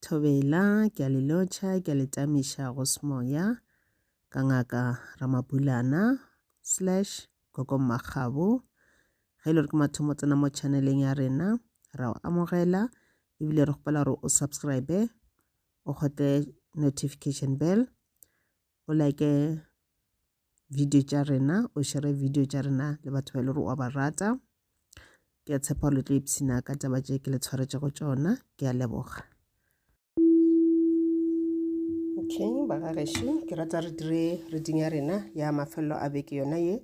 Thobela, ke a le lotšha, ke a le tamiša go semoya, ka ngaka Ramabulana, slash, Gogo Mmakgabo. Ge e le gore ke mathomo tsena mo channeleng ya rena, ra o amogela, ebile re kgopela gore o subscribe, o kgotle notification bell, o like video tša rena o šere video tša rena le batho ba e le gore wa ba rata ke a tshepa le tlo ipshina ka taba tše ke le tshwaretšego tšona ke a leboga okay bagagešu ke rata re dire reading ya rena ya mafelelo a beke yona ye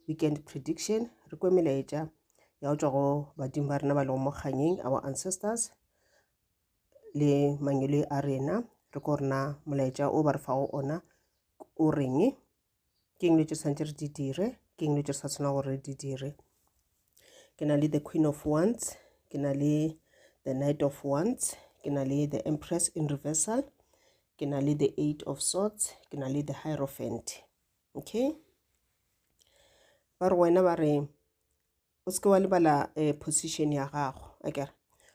weekend prediction re kwe melaetša ya go tswa go badimo ba rena ba lego mo kganyeng our ancestors le mangwele a rena re ko rena molaetša o ba re fago ona o reng ke eng le tše tshwanetse re di dire ke eng le tše sa tshwana gore re di dire ke na le the queen of wands ke na le the knight of wands ke na le the empress in reversal ke na le the eight of swords ke na le the hierophant okay ba re wena ba re o seke wa lebala um position ya gago a kere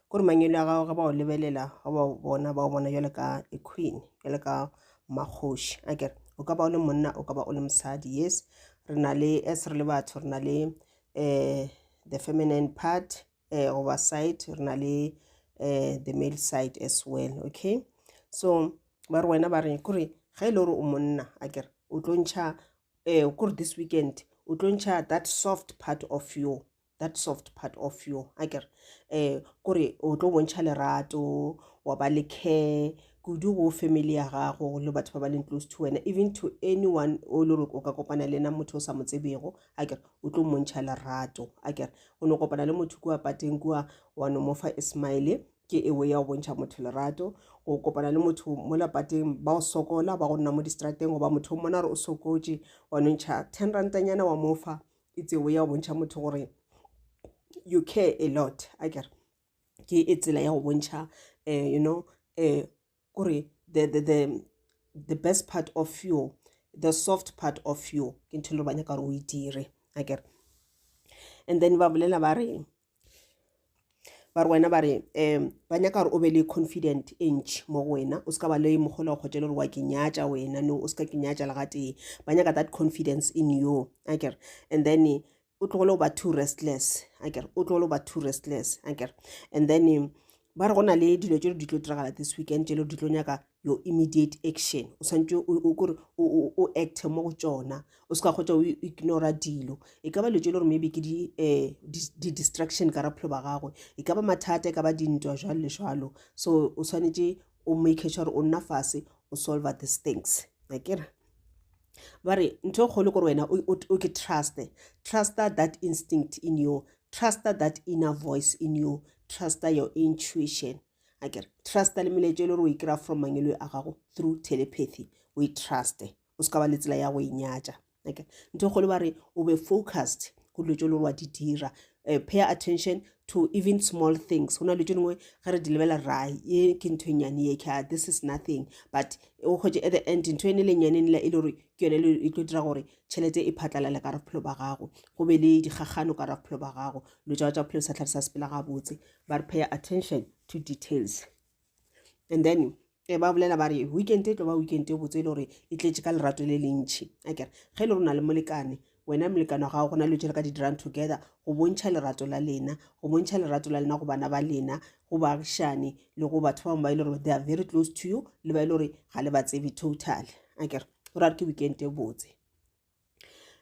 kore mangwele a gago ge ba o lebelela ga ba bona ba o bona jalo ka a queen jalo ka mmakgoši a kere o ka ba o le monna o ka ba o le mosadi yes re na le as re le batho re na le um the feminine part um goba side re na le um the male side as well okay so ba re wena ba re kore ga e le gore o monna a kere o tlo ntšha Eh, o kore this weekend o tlo ntšha that soft part of you that soft part of you a kere eh kore o tlo bontšha lerato wa ba le care kudu go family ya gago le batho ba ba leng close to wena even to anyone o le gore o ka kopana le ena motho o sa mo tsebego a kere o tlo montšha lerato a kere o ne kopana le motho kua pateng kua wa no mofa ismaele Ke ewe ya go bontšha motho lerato, go kopana le motho mola pateng, ba go sokola, ba go nna mo distrateng, goba motho o mona re o sokotše, wa no ntšha ten rantanyana wa mofa, it's ewe ya go bontšha motho gore you care a lot a kere ke e tsela ya go bontšha um you know um kore the, the, the, the best part of you the soft part of you ke ntho e le ba nyaka gore o e dire a kere and then ba bolela ba re ba re wena ba re um ba nyaka gore o be le confident e ntšhi mo go wena o se ka ba le mogolo kgotse le gore wa ke nyatša wena no o se ka ke nyatša le gatee ba nyaka that confidence in you a kere and then o tlogole go ba too restless a kere o tlogole go ba too restless a kere and then ba re go na le dilo tse di tlo diragala this weekend tse di tlo nyaka your immediate action o swanetše o kore o acte mo go tšona o se ka kgotsa o ignora dilo e ka ba letse le gore maybe ke eh, di-distraction ka raphelo ba gagwe e ka ba mathata e ka ba dintwa jalo le jalo so o swanetše o make sure gore o nna fase o solve these things akere ba re ntho e kgolo gore wena o ke truste truster that instinct in you truster that inner voice in you truster your intuition a kere trusta le melaetša e le gore o e kry-a from mangelo a gago through telepathy o e truste o se ka ba le tsela ya go e nyatša okay ntho kgolo ba re o be focused go dilo tse le gore wa di dira uh, pay attention to even small things go na dilo tse dingwe ge re di lebela ra ye ke ntho e nyane ye ka this is nothing but o kgwetse at the end ntho ene le nyane nela e le gore ke yone e tlo dira gore tšhelete e phatlalale ka raphelo ba gago go be le dikgagano ka raphelo ba gago dilo tsa tsa phelo sa tlhare sa sepela gabotse ba re pay attention to details and then e ba bolela ba re weekend e tlo ba weekend e botse e le gore e tletse ka lerato le le ntšhi a kere ge e le rona le molekane wena molekane wa gago go na le tšele ka di-drum together go bontšha lerato la lena go bontšha lerato la lena go bana ba lena go baagišane le go batho ba bangwe ba e le gore they are very close to you le ba e le gore ga le ba tsebe total a kere go ra re ke weekend e botse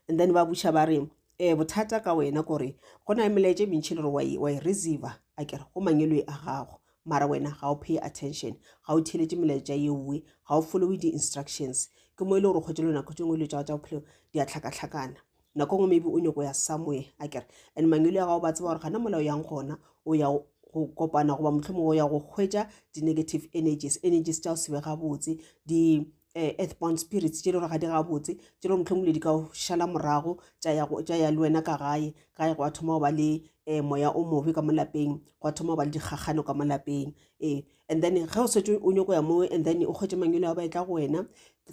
and then ba buša ba re um bothata ka wena kore go na le melaetše mentšhi le gore wa e receiver a kere go mangelwe a gago mara wena ga o pay attention ga o theletše melaetša yeoe ga o followe di-instructions ke mo e le gore kgwetse le nako tse ngwe le tsa tsa bophelo di a tlhakatlhakana nako ngwe maybe o nyoko ya somewhere a kere and mangelo ya gago ba tseba gore gana molao yang gona o ya go kopana goba motlhomong o ya go hwetša di-negative energies energies tša go sebe gabotse di eh, earthbound spirits tše le gore ga di gabotse tše le gore mohlomong le di ka o šala morago tša ya go- tša ya le wena ka gae gae go a thoma go ba le um moya o mobe ka mo lapeng go a thoma go ba le dikgakgano ka mo lapeng ee and then ge o setse o nyoko ya moo and then o kgwetse mangwelo a ba e tla go wena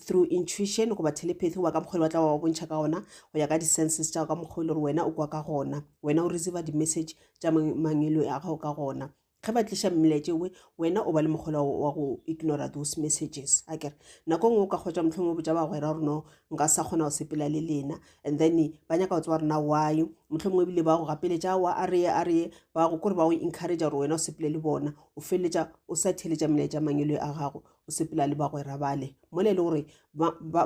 through intuition goba telepathy goba ka mokgwa le batla wa bontšha ka gona go ya ka di-senses tša go ka mokgwa e le gore wena o kwa ka gona wena o receiva di-message tša mang- mangwelo a gago ka gona ge ba tliša mmiletse we wena o ba le mokgola wa go ignora those messages a kere nako ngwe o ka kgwetsa motlhong o botsa bagwera gore no nka sa kgona go sepela le lena and then ba nyaka go tseba gore na why motlhong mongwe ebile ba go gapeletša wa a reye a reye ba go kore ba go encourage gore wena o sepele le bona o feleletša o sa theletša melaetša mangelo a gago o sepela le bagwera bale mole e le gore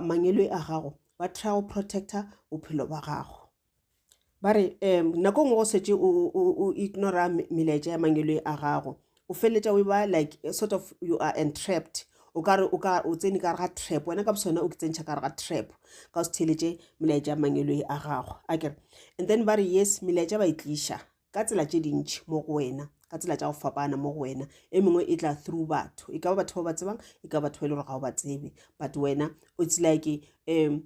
mangelo a gago ba try go protecta bophelo ba gago ba re um nako e nngwe go setse o ignora melaetša ya mangwele a gago o feleletša o e ba like sort of you are entrapped o kare o ka o tsene ka ga trap wena ka bosone o ke tsentšha ka ga trap ka o se theletše melaetša a mangwelo e a gago a kere and then ba re yes melaetša ba e tliša ka tsela tše dintšhi mo go wena ka tsela tša go fapana mo go wena e mengwe e tla through batho e ka ba batho ba ba tsebang e ka batho ba e le gore ga o ba tsebe but wena o tsilake um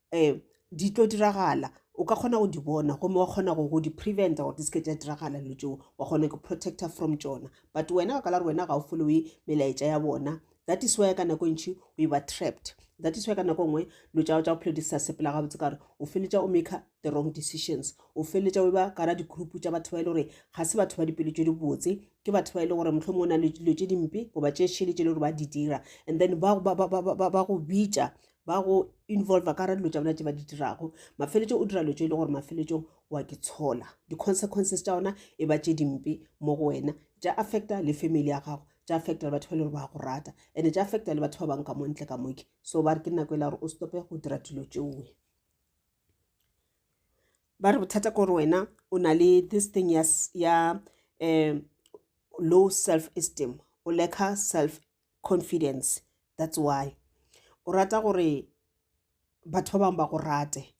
um di tlo diragala o ka kgona go di bona gomme wa kgona go di preventa gore di se ke tša diragala dilo tšeo wa kgona go protecta from tšona but wena ka kala gore wena ga o foloe melaetša ya bona that is why ka nako e ntšhi o e ba trapped that is why ka nako e nngwe dilo tša go tša bophelo di sa sepela gabotse ka gore o feletša o maker the wrong decisions o feletša o e ba kara di-group tša batho ba e le gore ga se batho ba dipelo tše di botse ke batho ba e le gore motlho mongwe o na le dilo tše dimpe goba tše šele tše e le gore ba di dira and then ba go bitša ba go involva ka ra dilo tša bona tše ba di dirago mafeletšong o dira dilo tše e le gore mafeletšong wa ke tshola di-consequences tša ona e ba tše dimpe mo go wena tša affecta le family ya gago tša affecta le batho ba e le gore ba go rata and-e tša affecta le batho ba bangwe ka mo ntle ka moke so ba re ke nako e la gore o stope go dira dilo tšeoe ba re bothata kore wena o na le this thing ya, ya um low self esteem o lack self confidence that's why o rata gore batho ba bangwe ba go rate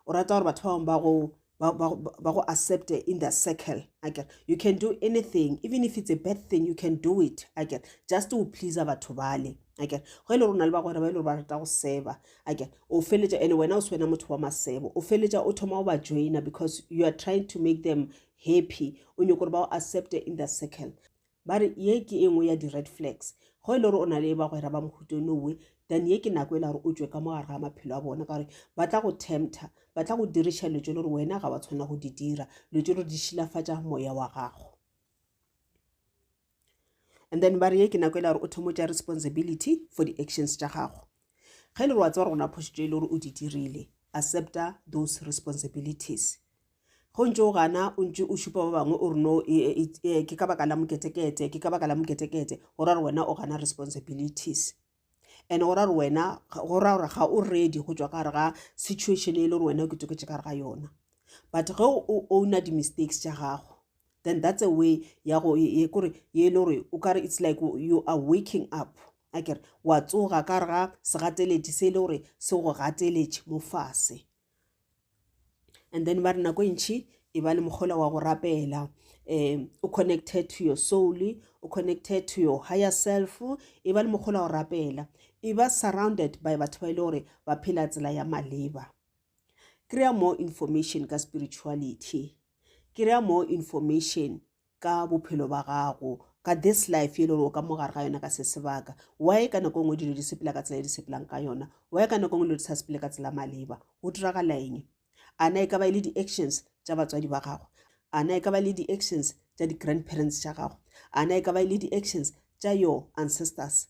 o rata gore batho ba bangwe ba go ba go accept in the circle i get you can do anything even if it's a bad thing you can do it i get just to please batho bale i get go ile e rona le ba gore ba ile e ba rata go seba i get o feletša ene wena o se wena motho wa masebo o feletša o thoma o ba joina because you are trying to make them happy o nyoko gore ba o accept in the circle ba re ye ke e nngwe ya di-red flags go e le gore o na le e bagwera ba mohuto nowe then ye ke nako e le gore o tswe ka mo gare ga maphelo a bona ka gore ba tla go tempter ba tla go diriša lotso le gore wena ga wa tshwanela go di dira lotso le gore di šilafatša moya wa gago and then ba re ye ke nako e le gore o thomo tša responsibility for di-actions tša gago ge e le gore wa tseba gore gona phošitšo e le gore o di dirile accepta those responsibilities go ntse o gana o ntse o šupa ba bangwe o re no e, e, e, e, ke ka baka la moketekete ke ka baka la moketekete go ra gore wena o gana responsibilities and go ra gore wena go ra gore ga o ready go tswa ka gare ga situation e le gore wena o ketoketse ka gare ga yona but ge o owna di-mistakes tša gago then that's a way ya go ye kore ye e le gore o kare it's like you are waking up a kere wa tsoga ka gare ga segateletši se e le gore se go gateletše mo fase and then ba re nako e ntšhi e ba le mokgola wa go rapela um o connected to your soul o connected to your higher self e ba le mokgola wa go rapela e ba surrounded by batho ba e le gore ba phela tsela ya maleba kry-a more information ka spirituality kry-a more information ka bophelo ba gago ka this life e le gore o ka mo gare ga yona ka se sebaka why ka nako e nngwe dilo di sepela ka tsela e di sepelang ka yona why ka nako e nngwe dilo di sa sepele ka tsela maleba go diragala eng ana e ka ba e le di-actions tša batswadi ba gago ana e ka ba e le di-actions tša di-grandparents tša gago ana e ka ba e le di-actions tša your ancestors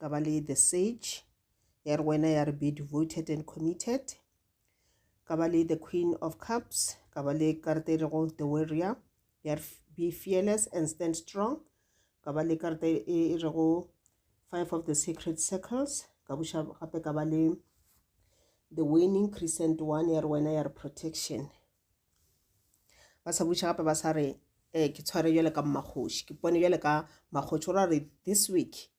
ka ba le the sage ya re wena ya re be devoted and committed ka ba le the queen of cups ka ba le karata e rego the warrior ya re be fearless and stand strong ka ba le karata e, e, e rego five of the secret circles ka buša gape ka ba le the winning crescent one ya re wena ya re protection ba sa buša gape ba sa re um ke tshware jale ka mmakgoši ke pone jale ka mmakgoši o ra re this week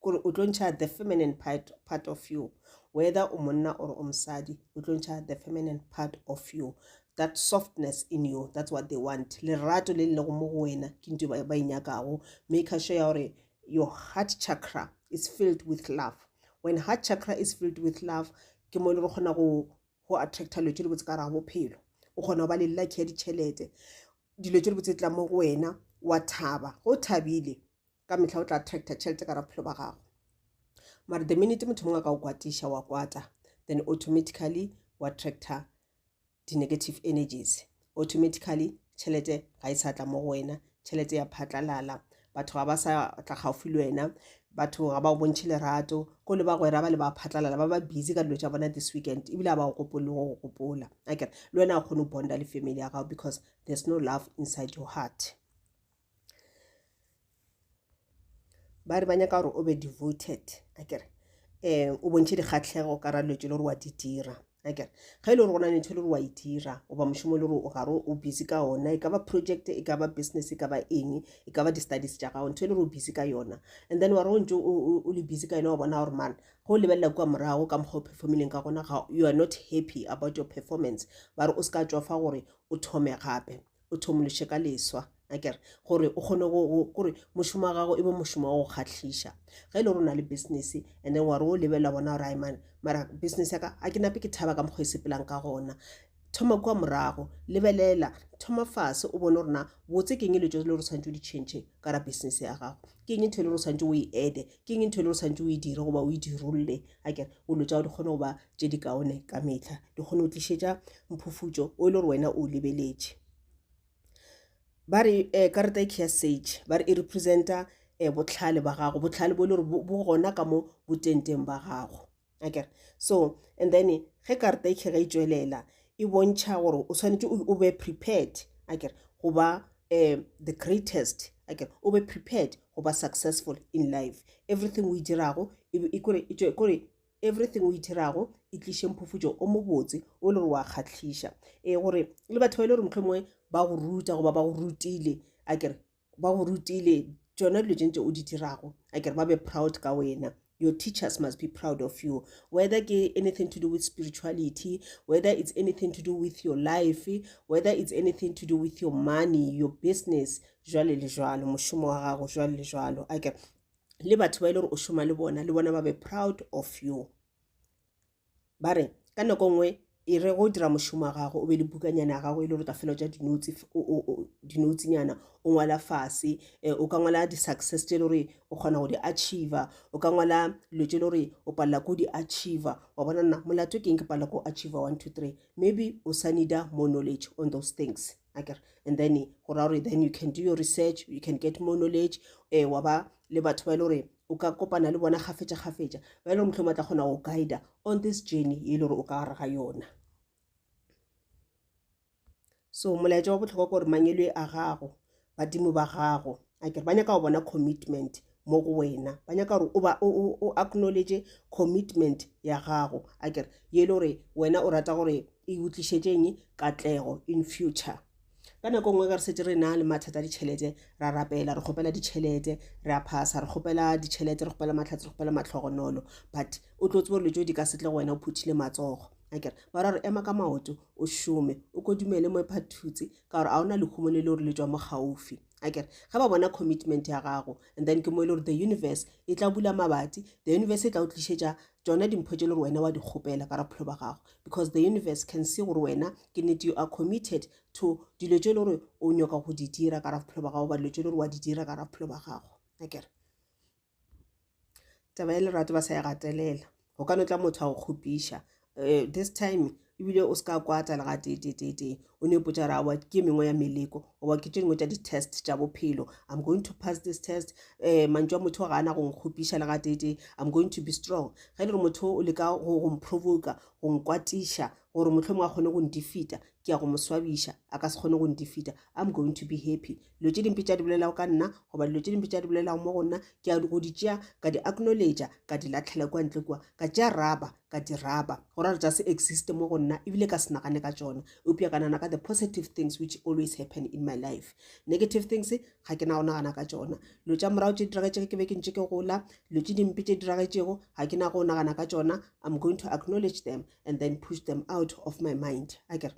kore o tlo ntšha the feminine part, part of you whether o monna or o mosadi o tlo ntšha the feminine part of you that softness in you that's what they want lerato le lego mo go wena ke nto ba e nyakago make sure ya gore your heart chakra is filled with love when heart chakra is filled with love ke mo e le re kgona go go attracta dilo tse di botse ka raga bophelo o kgona go ba le lucky ya ditšhelete dilo tse di botse tla mo go wena wa thaba go thabile ka metlha o tla attracta tšhelete ka ra bophelo ba gago mara the minute motho mongwe a ka o kwatiša wa kwata then automatically wa attracta di-negative energies automatically tšhelete ga e sa tla mo go wena tšhelete ya phatlalala batho ga ba sa tla gaufi le wena batho ga ba o bontšhe lerato ko le bagwera ba le ba phatlalala ba ba busy ka dilo tša bona this weekend ebile a ba o gopole le go go gopola akere le wena a kgone go bonda le family ya gago because there's no love inside your heart ba re ba nyaka gore o be devoted akere um o bontšhe dikgatlhego ka ra dilo tse le gore wa di dira akere ge e le gore go na le ntho e le gore wa e dira goba mošomo e le gore o gare o busy ka ona e ka ba project e ka ba business e ka ba eng e ka ba di-studies tša gago ntho e le gore o busy ka yona and then wa re o ntse o le busy ka yona wa bona gore mana ge o lebelela kua morago ka mokgwa o performileng ka gona ga you are not happy about your performance ba re o se ka tswafa gore o thome gape o thomološe ka leswa akere gore o kgone gore mošomo wa gago e be mošomo wa go kgatlhiša ge e le rona le business and then ware o lebelela bona gore imane mara business yaka a ke nape ke thaba ka mokgwa e sepelang ka gona thoma kua morago lebelela thoma fase o bone gorena botse keng e le tso le gore tshwanetse o di change ka ra business ya gago ke eng ntho e le gore tshwanetse o e ede ke eng ntho e le gore tshwanetse o e dire goba o e dirolole a kere olo tsa go di kgone go ba tse di kaone ka metlha di kgone go tlišetša mphufutšo o e le gore wena o lebeletše ba re um karata e ke ya sage ba re e representa um botlhale ba gago botlhale bo e le gore bo gona ka mo botenteng ba gago akere so and then ge karata e tlhega e tšwelela e bontšha gore o tshwanetse o be prepared akere go ba um the greatest akere o be prepared go ba successful in life everything o e dirago e, e, e kore everything o e dirago e tliše mphufutšo o mobotse o le gore wa kgatlhiša e gore le batho ba e le gore motlho mongwe ba go ruta goba ba go rutile akere ba go rutile tšona dilo tše ntse o di dirago a kere ba be proud ka wena your teachers must be proud of you whether ke anything to do with spirituality whether it's anything to do with your life whether it's anything to do with your money your business jwale le jwalo mošomo wa gago jwale le jwalo a kere le batho ba e le gore o šoma le bona le bona ba be proud of you ba re ka nako nngwe e re go dira mošomo wa gago o be le bukanyana ya gago e le gore ka fela ja dinotsi dinotsinyana o ngwala fase um o ka ngwala di-success tse e le gore o kgona go di achiever o ka ngwala dilo tse e le gore o palela ko di achiever wa bona nna molato ke eng ke palela ko achiever one two three maybe o sa needa more knowledge on those things akere and then go raya gore then you can do your research you can get more knowledge um wa ba le batho ba e le gore o ka kopana le bona gafetša-gafetša ba e le gore mohlomong ba tla kgona go guida on this journey e le gore o ka gare ga yona so molaetša wa botlhokwa ke gore mangelo a gago badimo ba gago a kere ba nyaka go bona commitment mo go wena ba nyaka gore o ba o acknowledge commitment ya gago a kere ye e le gore wena o rata gore e utlišetšeng katlego in future ka nako nngwe ge re setse re na le mathata a ditšhelete ra rapela re kgopela ditšhelete re a phasa re kgopela ditšhelete re kgopela matlhatse re kgopela matlhogonolo but o tlo tsebo dilo tso di ka setle go wena o phuthile matsogo akere ba ra re ema ka maoto o šome o kodumele mo ephathutse ka gore a o na lehumo le le gore le tswa mo gaufi a kere ge ba bona commitment ya gago and then ke mo e le gore the universe e tla bula mabati the universe e tla o tlišetša tsona dimpho tše le gore wena wa di kgopela ka rapholo ba gago because the universe can see gore wena ke nnete you are committed to dilo tše e le gore o nyaka go di dira ka rapholo ba gago ba dilo tše e le gore wa di dira ka rapholo ba gago a kere taba ya lerato ba sa e gatelela go ka no tla motho a go kgopiša eh, this time ebile o se ka kwata le ga tetetetee o ne ipotsa ra wa ke mengwe ya meleko goba ke tše dingwe tša di-test tša bophelo i'm going to pass this test um mantšu a motho ga ana go nkgopiša le ga tetee i'm going to be strong ge e le gore motho o leka go mprovoka go nkwatiša gore motlho mongwe a kgone go ndifita ke ya go mo swabiša a ka se kgone go ndifita i'm going to be happy dilo tše dimpe tša di bolelago ka nna goba dilo tše dimpe tša di bolelago mo go nna ke a go di tšea ka di acknowledgea ka di latlhela kwa ntle kua ka tšea raba ka di raba go rara tša se existe mo go nna ebile ka se nagane ka tšona eupša ka nana ka the positive things which always happen in my life negative things ga ke na go nagana ka tšona dilo tša morago tše diragetšego ke be ke ntše ke gola dilo tše dimpe tše diragetšego ga ke na go nagana ka tšona i'm going to acknowledge them and then push them out of my mind a kere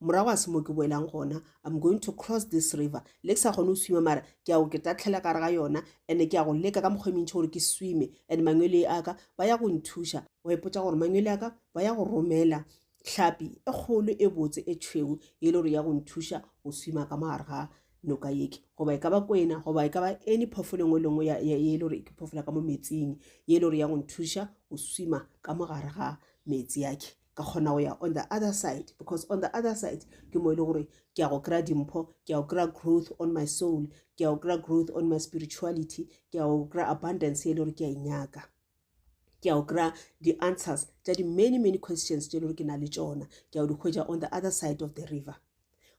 morago ga se mo ke boelang gona i'm going to cross this river le ke sa kgone go swima mara ke ya go ke tatlhela kare ga yona and-e ke ya go leka ka mokgwa e mentšhi gore ke swime and mangwele a ka ba ya go nthuša wa ipotsa gore mangwele a ka ba ya go romela hlapi e kgolo e botse e tšhweu e le gore ya go nthuša go swima ka mogare ga noka yeke goba e ka ba kwena goba e ka ba any phofolo engwe lengwe e le gore ke phofola ka mo metsing e le gore ya go nthuša go swima ka mogare ga metsi yake ka kgona go ya on the other side because on the other side ke mo e le gore ke ya go kry-a dimpho ke ya go kry-a growth on my soul ke ya go kry-a growth on my spirituality ke ya go kry-a abundance e le gore ke ya inyaka e ke ya go kry-a di-answers tša di-many many questions tše e le gore ke na le tšona ke ya go di hwetša on the other side of the river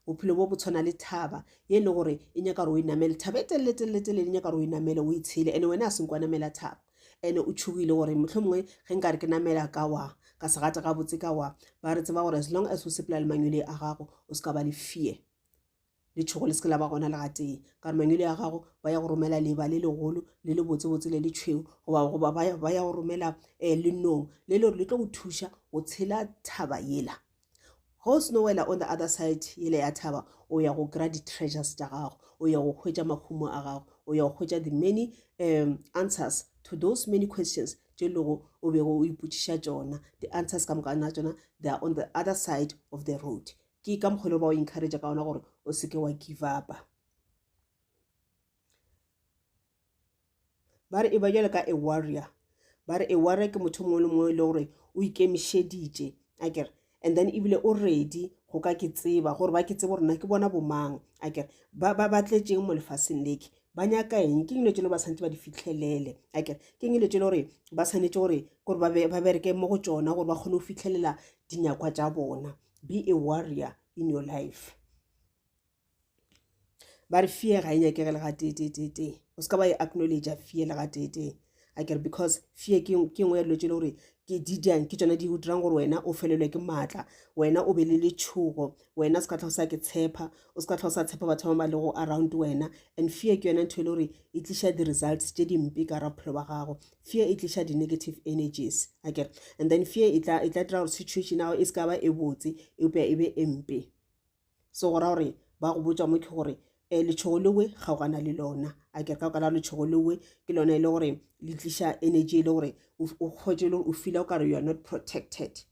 bophelo bo bo tshwana le thaba ye e le gore e nyaka gore o inamele thaba e teleletelele e nyaka gore o inamele o itshele ande wena a seng kwa namela thaba ande o tshogile gore motlho mongwe ge nka re ke namela ka wa ka segata ga botse ka wa ba re tseba gore as long as o sepela le mangwele a gago o se ka ba le fear le tšhogo le se ke la ba gona le gatee ka gore mangwele a gago ba ya go romela leba le legolo le le botsebotse le le tšhweu goba ba ya go romela um eh, lenong le le gore le tlo go thuša go tshela thaba yela Ge o seno wela on the other side yele ya thaba, o ya go kry-a di-treasures tša gago, o ya go hwetša mahumo a gago, o ya go hwetša the many um answers to those many questions tše e lego o bego o ipotšiša tšona. Di-answers ka moka na tšona they are on the other side of the road. Ke ka mokgwa e le ba o encourage ka ona gore o seke wa give upa. ba re e ba jalo ka a warrior ba re a warrior ke motho mongwe le mongwe e le gore o ikemišeditše a kere and then ebile o ready go ka ke tseba gore ba ke tsebe gore na ke bona bomang a kere ba ba tletšeng mo lefaseng leke ba nyaka eng ke dilo tse le ba tshwanetse ba di fitlhelele a kere ke dilo tse le gore ba tshwanetse gore gore ba bereke mo go tsona gore ba kgone go fitlhelela dinyakwa tsa bona be a warrior in your life ba re fear ga e nyakege le ga tee tee tee tee o se ka ba e acknowledge fear le ga tee tee a kere because fear ke nngwe ya dilo tse e le gore ke di jang ke tsone di go dirang gore wena o felelwe ke maatla wena o be le letshogo wena se ka tlha o sa ke tshepa o se ka tlha o sa tshepa batho ba ba le go around wena and fear ke yone ntho e le gore e tliša di-results tse dimpe ka ra bophelo ba gago fear e tliša di-negative energies a kere and then fear e tla e tla dira gore situation ya gago e se ka ba e botse eupša e be e mpe so go ra gore ba go botsa mo ke gore um letšhogo lewe kgaogana le lona a ke re ka boka la letšhogo lewe ke lona e le gore le tliša energy e le gore o kgwetse le gore o fila o kare you are not protected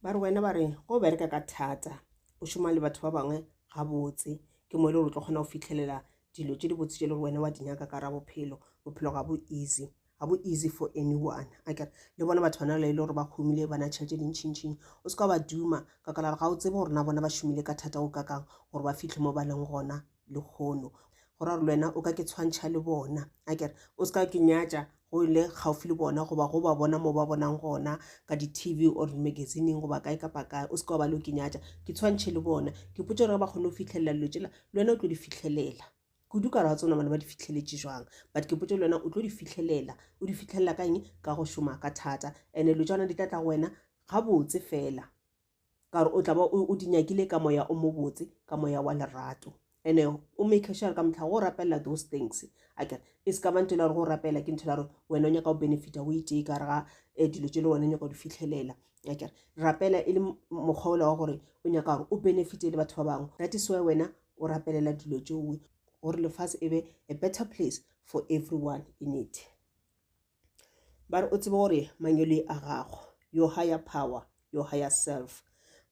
ba re wena ba re go bereka ka thata o šoma le batho ba bangwe gabotse ke mo e le gore o tlo kgona go fitlhelela dilo tse di botse tse le gore wena wa di nyaka ka ra bophelo bophelo ga bo easy ga bo easy for anyone a kere le bona batho bana le gore ba humile ba na tšhelete dintšhintšhing o se ka ba duma ka ka la ga o tsebe gore na bona ba šomile ka thata go kakang gore ba fitlhe mo ba leng gona le kgono go ra gore le wena o ka ke tshwantšha le bona a kere o se ka ke nyatša go le gaufi le bona goba go ba bona mo ba bonang gona ka di-tv or magazining goba kae kapa kae o se ka wa ba le o ke nyatša ke tshwantšhe le bona ke potse gore ba kgone go fitlhelela dilo tsela le wena o tlo di fitlhelela Kudu ka re wa tsona bona ba di fitlheletše jwang but ke potše le wena o tlo di fitlhelela o di fitlhelela ka eng ka go šoma ka thata ene lo tšona di tla tla go wena gabotse fela ka gore o tla ba o di nyakile ka moya o mobotse ka moya wa lerato ene o make sure ka motlha go rapelela those things a kere e se ka bantho la gore go rapelela ke ntho la gore wena o nyaka go benefita o itee ka re ga um dilo tše le wena o nyaka go di fitlhelela akere rapela e le mokgwa ola wa gore o nyaka gore o benefite le batho ba bangwe that is why wena o rapelela dilo tšeoe gore lefase e be a better place for everyone in it ba re o tsebe gore manyole a gago your higher power your higher self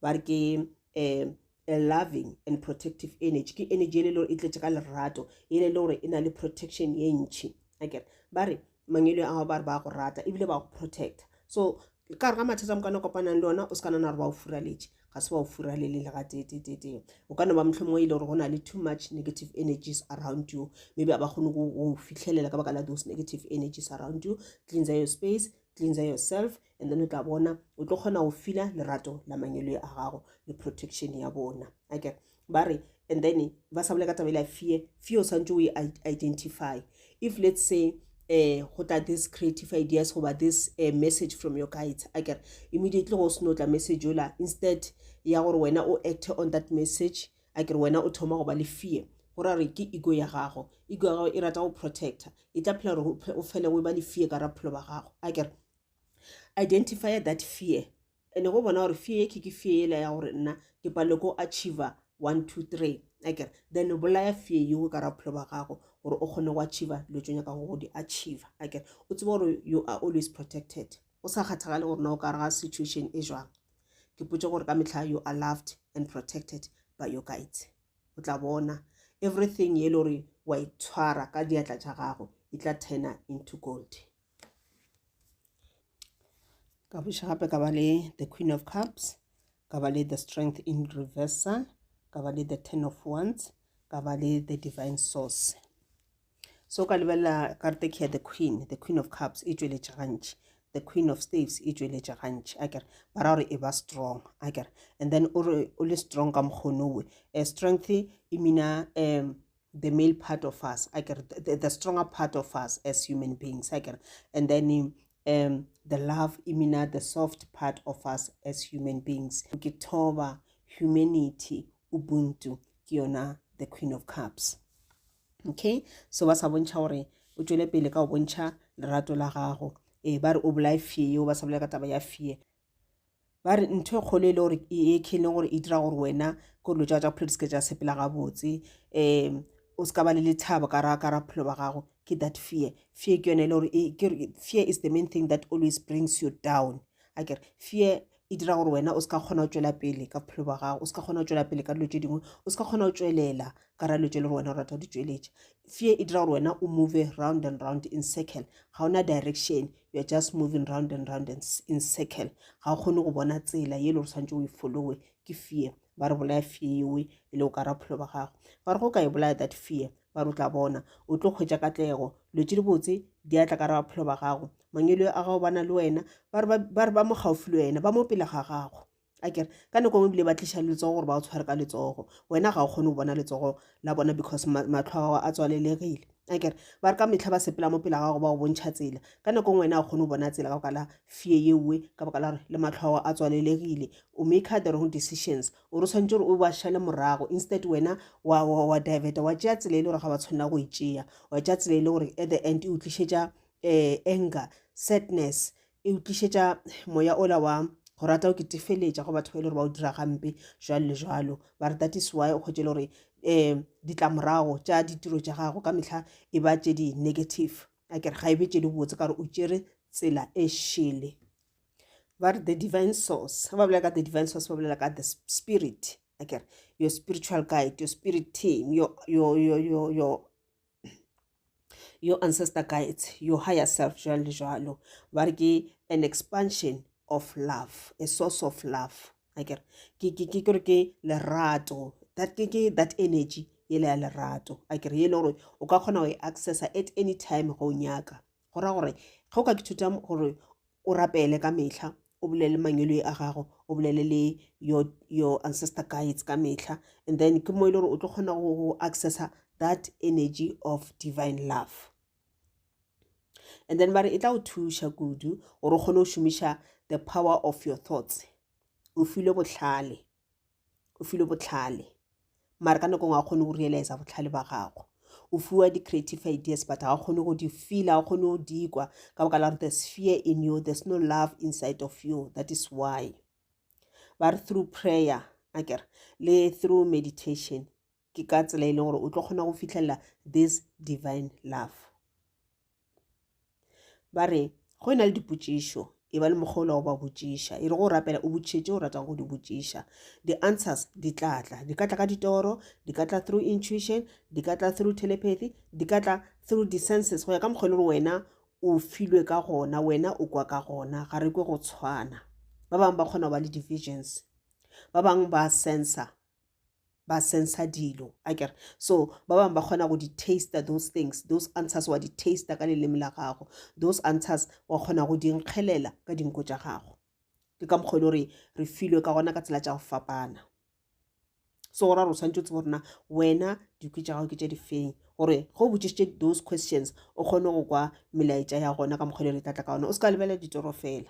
ba re ke um a loving and protective energy ke energy ele lore e tletše ka lerato ele le gore e na le protection ye ntšhi akere ba re mangelo a gago ba re ba go rata ebile ba go protecta so ka re ga mathata mo kana kopanang le ona o se ka nana gore ba o furaletše ga se ba o furalele le ga tetetete o ka no ba motlho mongwe e le gore go na le too much negative energies around you maybe a ba kgone go fitlhelela ka baka la those negative energies around you cleanser your space cleanser yourself And then o tla bona o tlo kgona go fila lerato la manyoloi a gago le protection ya bona ake ba re and then ba sa bole ka tabele ya fear fear o santse o e identify if let's say eh go tla this creative ideas goba this uh, message from your guides a kere immediately go seno tla message ola instead ya gore wena o acte on that message a kere wena o thoma go ba le fear go ra re ke ego ya gago ego ya gago e rata go protector e tla phela gore o fele o e ba le fear ka ra phelo ba gago a kere identify that fear ene go bona gore fear e ke ke fear ela ya gore nna ke palele ko achiever one two three akere then bolaya fear yeo ka ra bophelo ba gago gore o kgone go achiever dilo tso nyaka go di achiever akere o tsebe gore you are always protected o sa kgathagale gore na o ka re ga situation e jwang ke potse gore ka metlha you are loved and protected by your guides o tla bona everything ye le gore wa itshwara e ka diatla tša gago e tla turna into gold ka buša gape ka ba le the queen of cups ka ba le the strength in reversa ka ba le the ten of wands ka ba le the divine source so ka lebelela karte ke ya the queen the queen of cups e tšweletša gantši the queen of staves e tšweletša gantši a kere ba ra gore e ba strong a kere and then o re o le strong ka mokgono we eh, strength e mina um the male part of us akere the, the stronger part of us as human beings akere and then um, the love imina the soft part of us as human beings ke thoba humanity ubuntu ke yona the queen of cups okay so ba sa bontšha gore o tšwele pele ka go bontšha lerato la gago ee ba re o bolae fee yeo ba sa bolela ka taba ya fee ba re ntho e kgolo e le gore e ekheng le gore e dira gore wena ko dilo tsa phelo di seke tsa sepela gabotse um o se ka ba le lethabo ka ra ka ra phelo ba gago ke that fear fear ke yone e le gore e, fear is the main thing that always brings you down a kere fear e dira gore wena o se ka kgona go tswela pele ka bophelo ba gago o se ka kgona go tswela pele ka dilo tse dingwe o se ka kgona go tswelela ka ra dilo tse le gore wena o rata go di tsweletša fear e dira gore wena o move round and round in circle ga ona direction you are just moving round and round and in circle ga o kgone go bona tsela ye e le gore tshwanetse o e followe ke fear ba re bolaya fear yewe e le o ka ra bophelo ba gago ba re go ka e bolaya that fear ba re o tla bona o tlo kgwetsa katlego dilo tse di botse di atla ka ra bophelo ba gago mangelo a gago bana le wena ba re ba mo gaufi le wena ba mo pele ga gago a kere ka nako ngwe bile ba tliša letsogo gore ba o tshware ka letsogo wena ga o kgone go bona letsogo la bona because matlho a gago a tswalelegile a kere ba re ka metlha ba sepela mo pela gago ba go bontšha tsela ka nako ngwe wena ga kgone go bona tsela ka boka la fee yeowe ka boka la gore le matlho a gago a tswalelegile o make the wrong decisions o re tshwanetse gore o ba šale morago instead wena wa, wa, wa diveta wa tšea tsela e le gore ga ba tshwanela go e tšea wa tšea tsela e le gore at the end e o tlišetša um anger sadness e utlišetša moya ola wa go rata o ketefeletša go batho ba e le gore ba o dira gampe jalo le jalo ba re that is why o kgwetse le gore um ditlamorago tša ditiro tša gago ka mehla e ba tše di-negative a kere ga e be tše di botse ka gore o tšere tsela e šele ba re the divine source ba bolela ka the divine source ba bolela ka the spirit a kere your spiritual guide your spirit team your, your, your, your, your your ancestor guides your higher self jalo le jalo ba re ke an expansion of love a source of love akere ke ke ke gore ke lerato that ke ke that energy e le ya lerato akere e le gore o ka kgona go e accessa at any time go nyaka go ra gore ge o ka ithuta gore o rapele ka mehla o bolele mangwelwe a gago o bolele le your, your ancestor guides ka mehla and then ke mo e le gore o tlo kgona go accessa that energy of divine love and then ba re e tla o thuša kudu gore o kgone go šomiša the power of your thoughts o filwe bohlale o filwe botlhale mara ka nako ngwe ga kgone go realize botlhale ba gago o fiwa di-creative ideas but ga kgone go di feela ga kgone go di kwa ka boka la gore there's fear in you there's no love inside of you that is why ba re through prayer akere le through meditation Ke ka tsela e le gore o tlo kgona go fihlelela this divine love. Ba re go e na le dipotšišo e ba le mokgwa o le go ba botšiša e re go rapela o botšhetse o ratang go di botšiša di-answers di tla tla di ka tla ka ditoro di ka tla through intuition di ka tla through telepathy di ka tla through di-senses go ya ka mokgwa e le gore wena o filwe ka gona wena o kwa ka gona ga re kwe go tshwana ba bangwe ba kgona go ba le di-visions ba bangwe ba sensa ba sensa dilo a kere so ba bangwe ba kgona go di-taster those things those answers wa di-taster ka leleme la gago those answers wa kgona go di nkgelela ka dinko tša gago ke ka mokgwa e le gore re filwe ka gona ka tsela tša go fapana so go ra gore o tshwanetse o tsebo gorena wena dikwi tša gago ke tša difeng gore ge o botsisitše those questions o kgone go kwa melaetša ya gona ka mokgwa e le gore e tlatla ka gona o se ka lebelela ditoro fela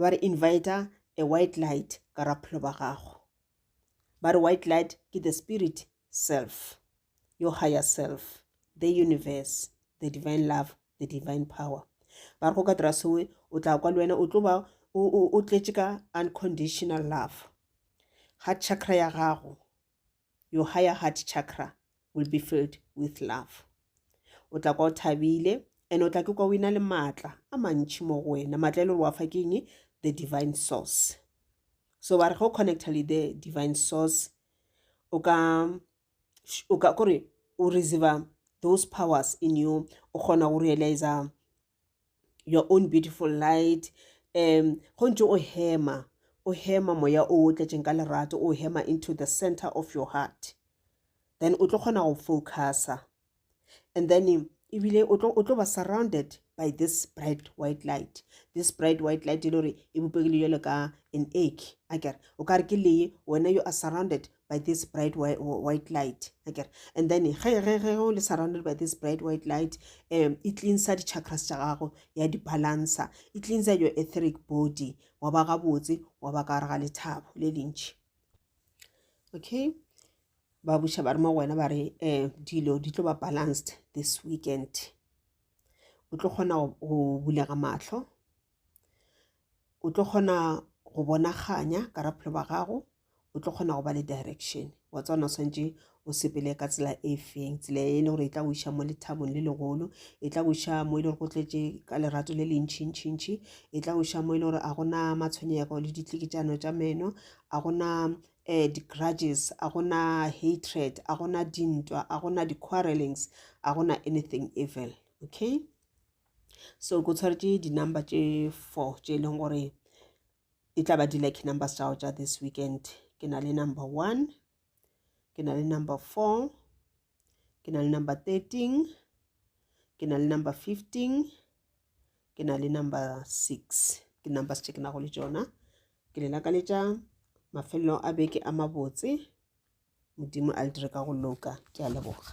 ba re invita a white light ka ra phelo ba gago ba re white light ke the spirit self your higher self the universe the divine love the divine power ba re go ka dira sewe o tla kwa le wena o tlo ba o tletše ka unconditional love ga chakra ya gago your higher heart chakra will be filled with love o tla kwa o thabile and o tla ke kwa o ina le maatla a mantšhi mo go wena maatla e le gore wa fa ke eng the divine source so ba re go connecta le the divine source o ka o ka kore o receive those powers in you o kgona go realiza your own beautiful light um go ntse o hema o hema moya o o tletšeng ka lerato o hema into the center of your heart then o tlo kgona go focusa and then ebile o tlo ba surrounded by this bright white light this bright white light e le gore e bopegile jalo ka an egg a kere o ka re ke lee wena you are surrounded by this bright white light akere and then ge ge ge o le surrounded by this bright white light um e cleansa di-chakras tša gago ya di-balancer e cleansa your etheric body wa ba gabotse wa ba ka gare ga lethabo le lentši okay ba buša ba re mo go wena ba re um dilo di tlo ba balanced this weekend o tlo kgona go bulega matlho o tlo kgona go bonaganya ka raphelo ba gago o tlo kgona go ba le direction wa tswana o swantše o sepele ka tsela e feng tsela e le gore e tla go iša mo lethabong le legolo e tla go iša mo e le gore go tletše ka lerato le lentšhintšhintšhi e tla go iša mo e le gore a gona matshwenyego le ditlikitšano tša meno a gona um eh, di-grudges a gona hatred a gona dintwa a gona di-quarrelings a gona anything evil okay so go tshwaretše di-number tše four tše e leng gore e tla ba di-lucky numbers tša go tša this weekend ke na le number one ke na le number four ke na le number thirteen ke na le number fifteen ke na le number six ke numbers tše ke nago le tšona ke le lakaletša mafelelo a beke a mabotse modimo a le dire ka go loka ke a leboga